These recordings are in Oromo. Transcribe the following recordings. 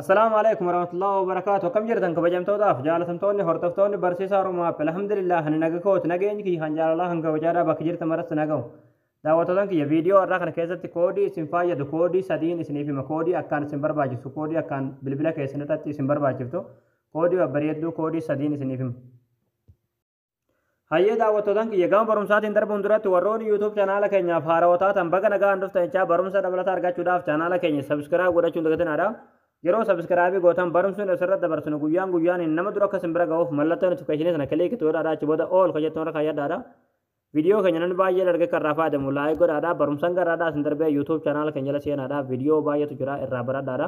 Assalaamu alaikum warahmatullahi wabarakatuh akkam jirtan kabajamtootaaf jaalatamtoonni hordoftoonni barsiisaa Oromoo App alhamdulillah ani naga kooti nageenyi kiyya kan jaalalaa kan kabajaadhaa bakka jirta maratti nagahu daawwattootan kiyya viidiyoo har'aa kana keessatti koodii isin fayyadu koodii sadiin isiniif hima koodii akkaan isin barbaachisu koodii akkaan bilbila keessan irratti isin barbaachiftu koodii babbareedduu koodii sadiin isiniif hima Hayyee daawwattootan kiyya gama barumsaatiin darbuun duratti warroonni YouTube chanaala keenyaaf haarawaa taatan baga nagaan dhuftan jechaa barumsa dabalataa argachuudhaaf chanaala keenya sabiskiraayib godhachuun dagatinaadha. Yeroo sabiskiraayibii gootan barumsi nuti asirratti dabarsinu guyyaan guyyaaniin nama dura akka sin bira ga'uuf mallattoo notifikashinii sana kiliik itti godhaadha achi booda ool kan jettu irra kaayyadhaadha. Viidiyoo keenya namni baay'ee dargee kan irraa fayyadamu laayik godhaadha barumsan garraadhaa sin darbee YouTube chanaala keenya jala seenaadha viidiyoo baay'eetu jira irraa baradhaadha.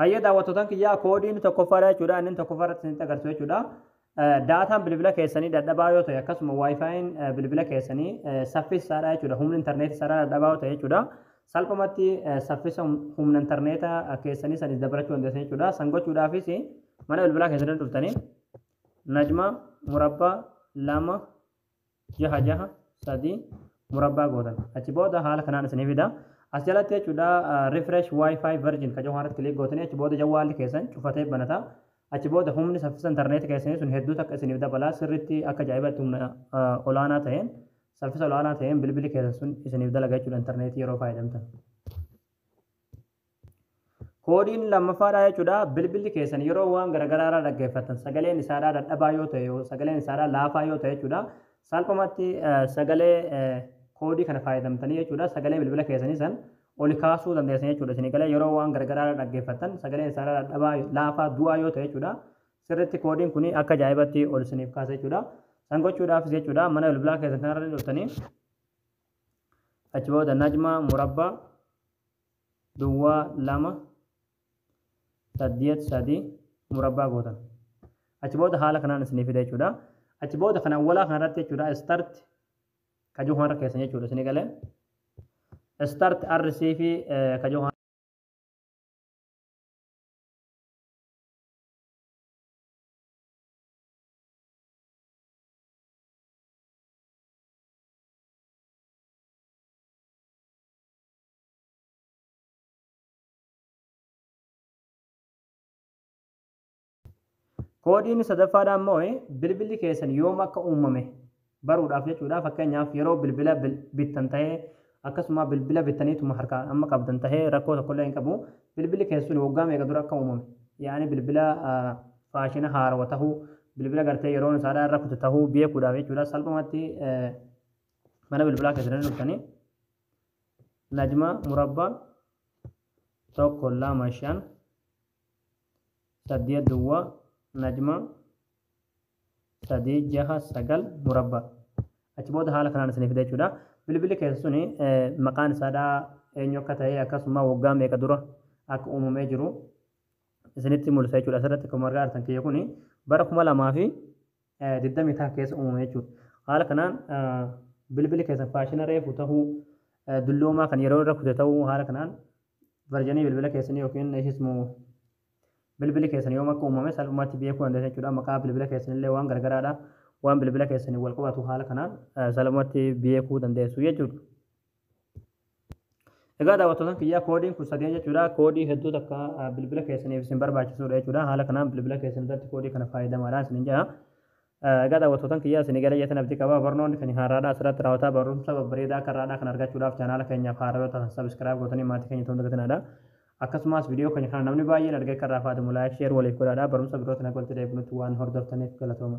Hayyee daawwattootaan kiyyaa koodii inni tokkoffaadha jechuudha. Inni tokkoffaa irratti isinitti agarsiisu jechuudha. Daataan bilbila keessanii dadhabaa yoo ta'e akkasuma waayifaayiin bilbila keessanii saffisaadha jechuudha. Humni intarneetii isaarraa dadhabaa yoo ta'e jechuudha. Salphumatti saffisa humna intarneetaa keessanii sanis dabalachuu dandeessan jechuudha. San gochuudhaafis mana bilbilaa keessanii dhuftanii najma murabbaa lama jaha jaha sadii murabbaa gootan achi booda haala kanaan isinii fida as jalatti jechuudha refresh wifi version ka jawaaratti kilik gootanii achi booda jawaalli keessan cufatee banata achi booda humni saffisa intarneetii keessanii sun hedduu takka isiniif dabalaa sirriitti akka jaa'ibatti humna olaanaa ta'een saffisa olaanaa ta'een bilbili keessan sun isiniif dalaga jechuudha intarneetii yeroo fayyadamtan. Koodiin lammaffaadhaa jechuudha bilbilli keessan yeroo waan garaagaraarraa dhaggeeffattan sagaleen isaadhaa dadhabaa yoo ta'e sagaleen isaadhaa laafaa yoo ta'e jechuudha salphumatti sagalee koodii kana fayyadamtanii jechuudha sagalee bilbila keessanii san oli kaasuu dandeessan jechuudha isin galee yeroo waan garaagaraarraa dhaggeeffattan sagaleen isaadhaa dadhabaa laafaa du'aa yoo ta'e jechuudha sirritti koodiin kun akka ajaa'ibatti ol isiniif kaasa jechuudha san gochuudhaafis jechuudha mana bilbilaa keessan kanarra dhuftanii achi booda najmaa murabbaa duwwaa 2 saddeet 3 murabbaa gootan achi booda haala kanaan isinii fida jechuudha achi booda kan awwalaa kan irratti jechuudha start kajoo harka keessan jechuudha isinii galee start RC fi eh, kajoo Koodiin sadaffaadhaa immoo bilbilli keessan yoom akka uumame baruudhaaf jechuudha. Fakkeenyaaf yeroo bilbila bittan ta'ee akkasuma bilbila bittaniituma harkaa amma qabdan ta'ee rakkoo tokkollee hin qabu. Bilbilli keessan sun waggaa meeqa dura akka uumame yaa'anii bilbila faashina haarawa ta'uu bilbila gartee yeroon isaadhaa irra kutu ta'uu beekuudhaaf jechuudha. Salphumatti mana bilbilaa keessan irra dhuftanii Najmaa murabbaa 1 2 5 8 duwwaa najmaa 3 6 9 murabbaa achi booda haala kanaan isiniif fida jechuudha bilbilli keessa suni maqaan isaadhaa eenyu akka ta'e akkasuma waggaa meeqa dura akka uumamee jiru isinitti mul'isa jechuudha asirratti akkuma argaa jirtan kiyya kuni bara kuma lamaa fi digdamii taha keessa uumame jechuudha. Haala kanaan bilbili keessan faashina reefu tahuu dulloomaa kan yeroo irra kute tahuu haala kanaan varjanii bilbila keessanii yookiin isismu bilbili keessan yoom akka uumame salphumaatti beekuu dandeessan jechuudha. Maqaa bilbila keessanillee waan gargaraadha. Waan bilbila keessaniin wal qabatu haala kanaan salphumaatti beekuu dandeessu jechuudha. Egaa daawwattoota kiyyaa koodiin kun sadeen jechuudha. Koodii hedduu takka ah, bilbila keessaniif isin barbaachisudha jechuudha. Haala kanaan bilbila keessan irratti koodii kana fayyadamaadhaan isin jedha. Eh, Egaa daawwattoota kiyyaa isin gara jetan abdii qaba. Barnoonni kan haaraadhaa asirratti raawwataa barumsa babbareedaa akka irraadhaa kan argachuudhaaf chaanaala keenyaaf haaraa yoo ta'an sabiskiraayib gootanii maatii keenya ta'uun dagatinaadha. Akkasumas viidiyoo keenya kana namni baay'een argee akka irraa fayyadamu laayik sheer waliif godhaadha. Barumsa birootiin akka walitti deebinutti waan hordoftaniif galatooma.